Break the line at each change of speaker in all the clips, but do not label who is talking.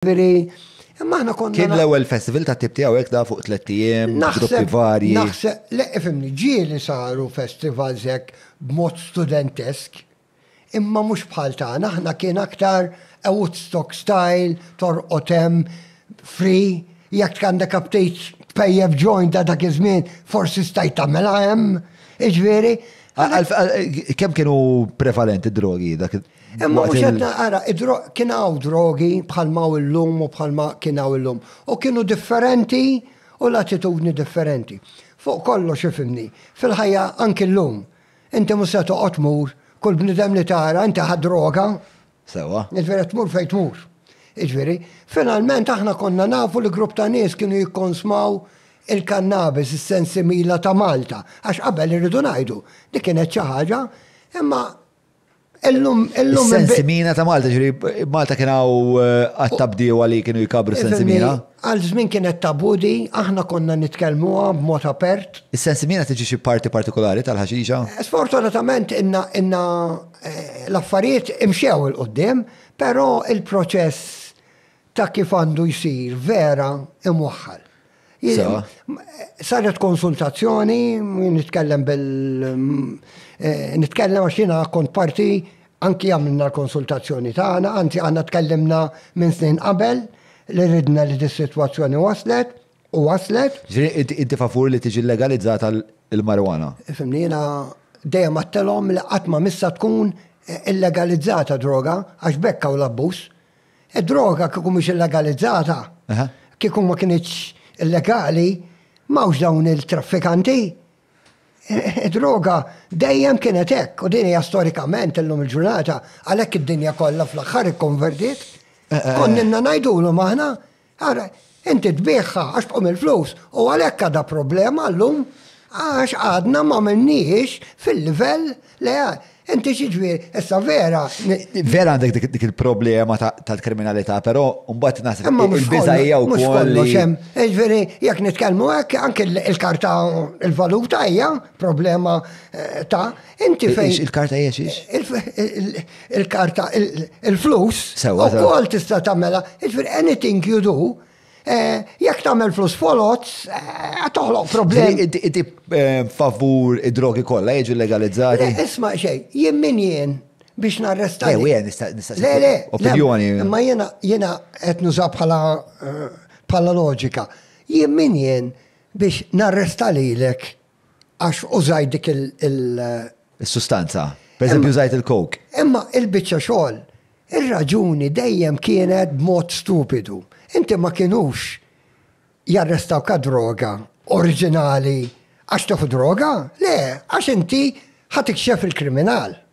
ġifieri Imma aħna konna. Kien l-ewwel festival ta'
tip tiegħu hekk da fuq tliet ijiem, gruppi varji. Naħseb, le ifimni,
ġieli saru festivals hekk b'mod studentesk, imma mhux bħal tagħna, aħna kien aktar a Woodstock style, torqod hemm, free, jekk tgħandek aptit tpejjef joint ta' dak iż-żmien, forsi stajt tagħmilha hemm, jiġifieri.
Kemm kienu prevalenti drogi dak Imma mhux qed
naqara, kien hawn drogi bħal ma illum u bħal ma kien hawn illum. U kienu differenti u l-attitudni differenti. Fuq kollox ifimni, fil-ħajja anki llum, inti mhux se toqgħod mur kull bniedem li tara inti ħadd droga. Sewwa.
Jiġifieri qed tmur fejn
tmur. Jiġifieri, finalment aħna konna nafu li grupp ta' nies kienu jikkonsmaw il-kannabis, is-sensimila ta' Malta. Għax qabel irridu ngħidu, dik kienet xi ħaġa, imma Illum, illum. Sensimina
ta' Malta, ġri, Malta kien hawn eh, għat-tabdiewa li kienu jkabru sensimina. Għal żmien kienet
tabudi, aħna konna nitkellmuha b'mod apert. Is-sensimina tiġi xi
parti partikolari tal-ħaxixa? Eh, sfortunatament
inna inna eh, l-affarijiet imxew il-qoddim, però il-proċess ta' kif għandu jsir vera imwaħħal. Saret konsultazzjoni, nitkellem bil. Eh, nitkellem għax jiena kont parti anki għamilna l-konsultazzjoni tagħna, anzi għandna tkellimna minn snin qabel li ridna li dis-sitwazzjoni waslet u waslet.
Inti favur li tiġi legalizzata l-marijuana? Fimni jiena
dejjem għattelhom li qatt ma missa tkun illegalizzata droga għax bekka u l-abbuż. Id-droga kieku mhux illegalizzata, kieku ma kinitx illegali, m'hawnx dawn il-traffikanti. Id-droga dejjem kienet hekk u din hija storikament illum il-ġurnata għalhekk id-dinja kollha fl-aħħar ikkonvertiet. Konninna ngħidulhom aħna Ara, inti tbiegħha għax tqum il-flus u għalhekk għadha problema llum għax għadna ma minniex fil-livell li inti xiġvir, issa vera. Vera għandek
dik il-problema tal-kriminalità, però mbagħad naħseb il-biża hija wkoll. Ġifieri
jekk nitkellmu hekk anke il-karta il-valuta hija problema eh, ta' inti fejn. Il-karta hija xiex? il-karta, il-flus, ukoll tista' tagħmela, jiġifieri anything you do, eh, jekk tagħmel flus foloz, eh, toħloq problemi. Inti eh,
favur id-drogi kollha jiġu legalizzati. Isma' xejn,
jien min jien biex narresta. Le, nista' nista' Le, le,
opinjoni. Imma jiena jiena
qed nuża bħala bħala loġika. Jien min jien biex narresta lilek għax użajt dik il-
Is-sustanza. Per eżempju użajt il-coke. Imma il-biċċa
xogħol, ir-raġuni dejjem kienet b'mod stupidu. Inti ma kienux jarrestawk għad droga oriġinali għax tieħu droga, le, għax inti ħa tikxef il-kriminal.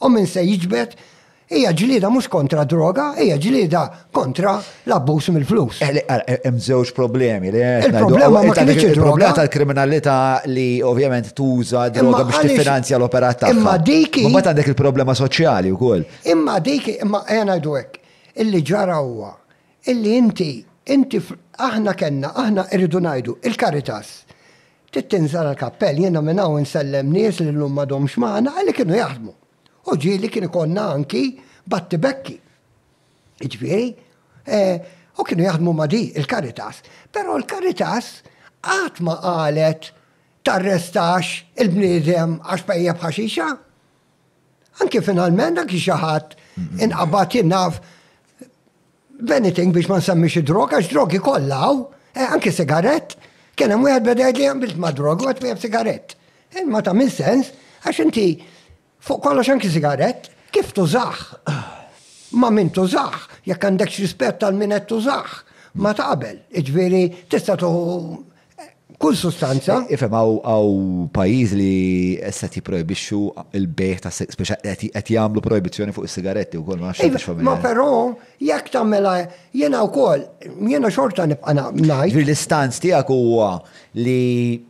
U min se jiġbed hija ġlieda mhux kontra droga, hija ġlieda kontra l-abbuż mill-flus. Eh, eh, hemm żewġ
problemi li Il-problema ma
kienx il-problema tal-kriminalità
li ovvjament tuża droga biex tiffinanzja l-operat tagħha. Imma dik Ma għandek
il-problema
soċjali wkoll. Imma dik imma
qiegħna ngħidu hekk. Illi ġara huwa Illi inti, inti fl-, aħna kellna, aħna irridu ngħidu, il-Caritas, trid tinżel għall-kappell, jiena minn hawn insellem nies li llum m'għadhomx magħna, illi kienu jaħdmu. U ġieli kien ikollna anki battibekki. Jiġifieri, u kienu jaħdmu ma' di, il-Caritas. Però l-Caritas qatt ma qalet tarrestax il-bniedem għax pejjep ħaxixa. Anki finalment, anki xi ħadd inqabad jien naf b'anything biex ma nsemmix id-drog, għax drogi kollha hawn, eh, anki sigarett, kien hemm wieħed beda jgħidli għamilt ma' drog, għad wieħed sigarett. Eh, ma ta' minn sens, għax inti fuq kollox anki sigarett, kif tużaħ? Ma' min tużaħ, jekk għandekx rispett għal min qed tużaħ, ma ta' qabel, iġviri tista' tuħu Kull sustanza. Eh, ifem, għaw
pajiz li esset jiprojbixxu il-bejħ ta' speċa qed jagħmlu projbizzjoni fuq is-sigaretti wkoll ma nafx Ma però
jekk tagħmela jiena wkoll jiena xorta nibqa' ngħid. L-istanz tiegħek
huwa li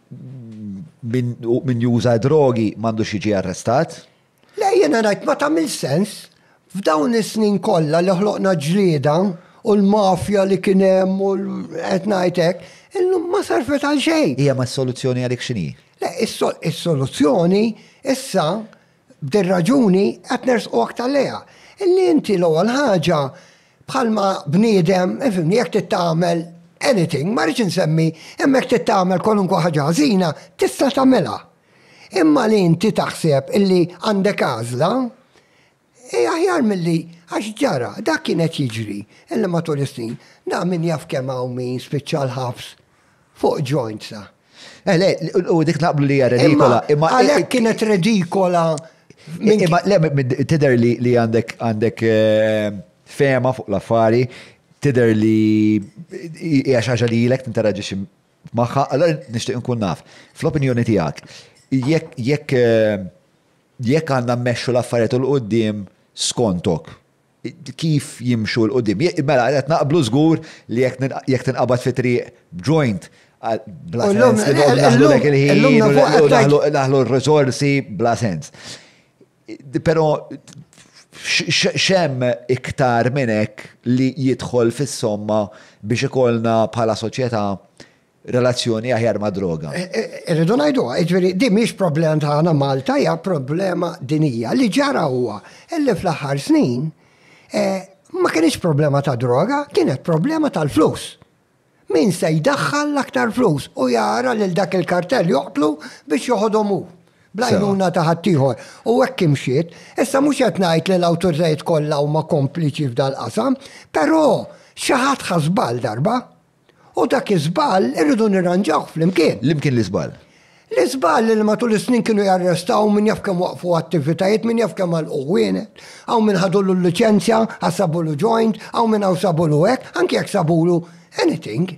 min
juża
drogi
m'għandux jiġi
arrestat? Le
jiena ngħid
ma tagħmilx
sens. F'dawn is-snin kollha li ħloqna ġlieda u l-mafja li kien hemm u qed ngħid hekk, illum ma servet għal xejn. Hija ma s-soluzzjoni għalik
x'inhi? Le
is-soluzzjoni issa b'dir-raġuni qed nersqu aktar lejha. Illi inti l-ewwel ħaġa bħalma bniedem, ifhimni, jekk trid tagħmel anything, ma rridx insemmi, imma jekk trid tagħmel kwalunkwe ħaġa ħażina, tista' tagħmilha. Imma li inti taħseb illi għandek għażla, hi aħjar milli għax ġara, dak kien qed jiġri, illi matul is-snin, naf min jaf kemm hawn min spiċċa l-ħabs fuq ġoint sa. Eh, le,
u dik naqblu li hija redikola. Imma għalhekk kienet
redikola. Imma
le tidher li għandek għandek eh, fema fuq l-affari, tidher li hija xi ħaġa li ilek tinteraġixxi Magħha, allora nixtieq nkun naf. Fl-opinjoni tiegħek, jekk jekk għandna mmexxu l-affarijiet u l-qudiem skontok, kif jimxu l-qudiem? Mela, qed naqblu żgur li jekk tinqabad fi triq b'joint, bla sens li noqogħdu naħlu dak il-ħin, naħlu r-riżorsi, bla sens. Però x'hemm iktar minn hekk li jidħol fis-somma biex ikollna bħala soċjetà relazzjoni aħjar mad-droga? Irridu ngħiduha,
jiġifieri din mhix problema tagħna Malta, hija problema dinjija. Li ġara huwa li fl-aħħar snin ma kinitx problema ta' droga, kienet problema tal-flus. Min se jdaħħal l-aktar flus u jara lil dak il-kartell joqtlu biex joħodhom hu, bl-għajnuna ta' ħaddieħor. U hekk imxiet. Issa mhux qed ngħid li l-awtoritajiet kollha huma kompliċi f'dal-qasam, però xi ħadd ħa żball darba. U dak iż-żball irridu nirranġawh flimkien. L-imkien l-iżball.
L-iżball li
matul is-snin kienu jarrestaw min jaf kemm waqqfu attivitajiet, min jaf kemm għalqu ħwienet, hawn min ħadulu l-liċenzja għax sabulu joint, hawn min hawn sabulu hekk, anki jekk sabulu anything.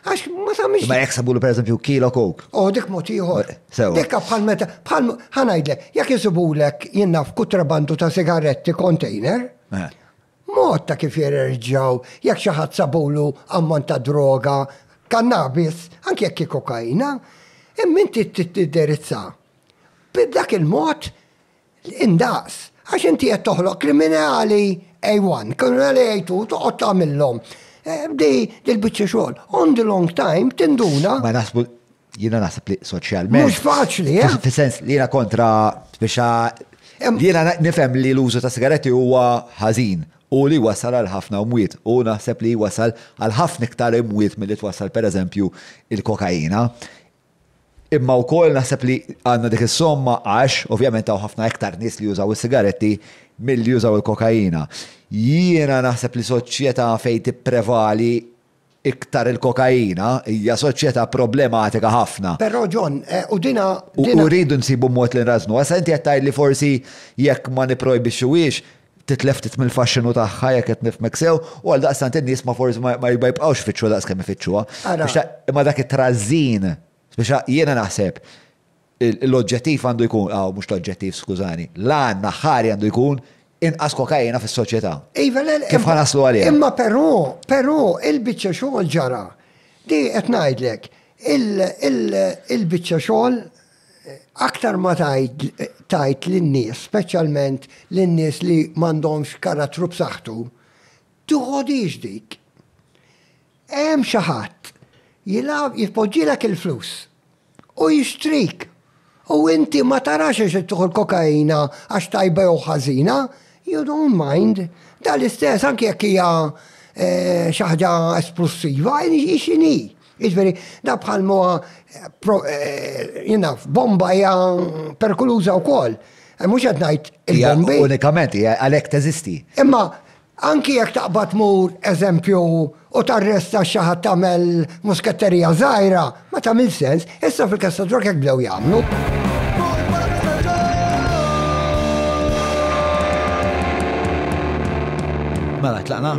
Għax ma tagħmilx. Ma jekk sabulu pereżempju
kilo coke. Oh, dik mod ieħor.
Dikka bħal meta bħal ħanajdlek, jekk isibulek jien naf kutrabandu ta' sigaretti container, Mod ta' kif jirreġġjaw jekk xi ħadd sabulu ammont ta' droga, kannabis, anki jekk hi kokaina, imma inti trid tindirizza b'dak il-mod indaqs għax inti qed toħloq kriminali A1, kriminali A2 u toqgħod tagħmilhom di l-biċċa xogħol. On the long time tinduna. Ma naħsbu
Jiena naħseb li soċjalment. Mhux faċli, eh?
Fis-sens li jiena
kontra biex jiena nifhem li l-użu ta' sigaretti huwa ħażin u li wasal għal ħafna mwiet u naħseb li wasal għal ħafna iktar imwiet milli twassal pereżempju il-kokaina. Imma wkoll naħseb li għandna dik is-somma għax ovvjament hawn ħafna iktar nies li jużaw is-sigaretti milli jużaw il-kokaina. Jiena naħseb li soċjetà fejn tipprevali Iktar il-kokaina hija soċjetà problematika ħafna. Però John,
u din, din. U rridu nsibu
mod li nrażżnuha. Issa inti qed tgħid li forsi jekk ma nipprojbixxuhiex, titlef ftit mill-faxxinu tagħha jekk qed nifhmek sew, u għaldaqstant in-nies ma forsi ma ma jibqgħux ifittxuha daqs kemm ifittxuha. Ara. Imma dak it-trażżin, spiċċa, jiena naħseb, L-oġġettiv għandu jkun, aw mhux l-oġġettiv skużani, l-għan aħħari għandu jkun inqas kokaina fis-soċjetà. Iva le le. Kif ħa naslu għaliha? Imma però,
però il-biċċa xogħol ġara. Di qed ngħidlek, il-biċċa xogħol aktar ma tgħid tgħid lin-nies, speċjalment lin-nies li m'għandhomx karattru b'saħħtu, toħodhiex dik. Hemm xi ħadd jilgħab jitpoġġilek il-flus u jixtrik u inti ma tarax għax qed tieħu l-kokaina għax tajba jew ħażina, you don't mind. Dan l-istess anki jekk hija xi ħaġa esplussiva, hi x'inhi. Jiġifieri, dan bħal ma huwa jien naf, bomba hija perikoluża wkoll. Mhux qed ngħid il-bombi. Unikament, għalhekk
teżisti. Imma
Anki jekk taqbad tmur, eżempju, u tarresta xi ħadd tagħmel musketterija żgħira, ma tagħmilx sens, issa fil-każ ta' drug hekk bdew jagħmlu.
Mela, tlaqna.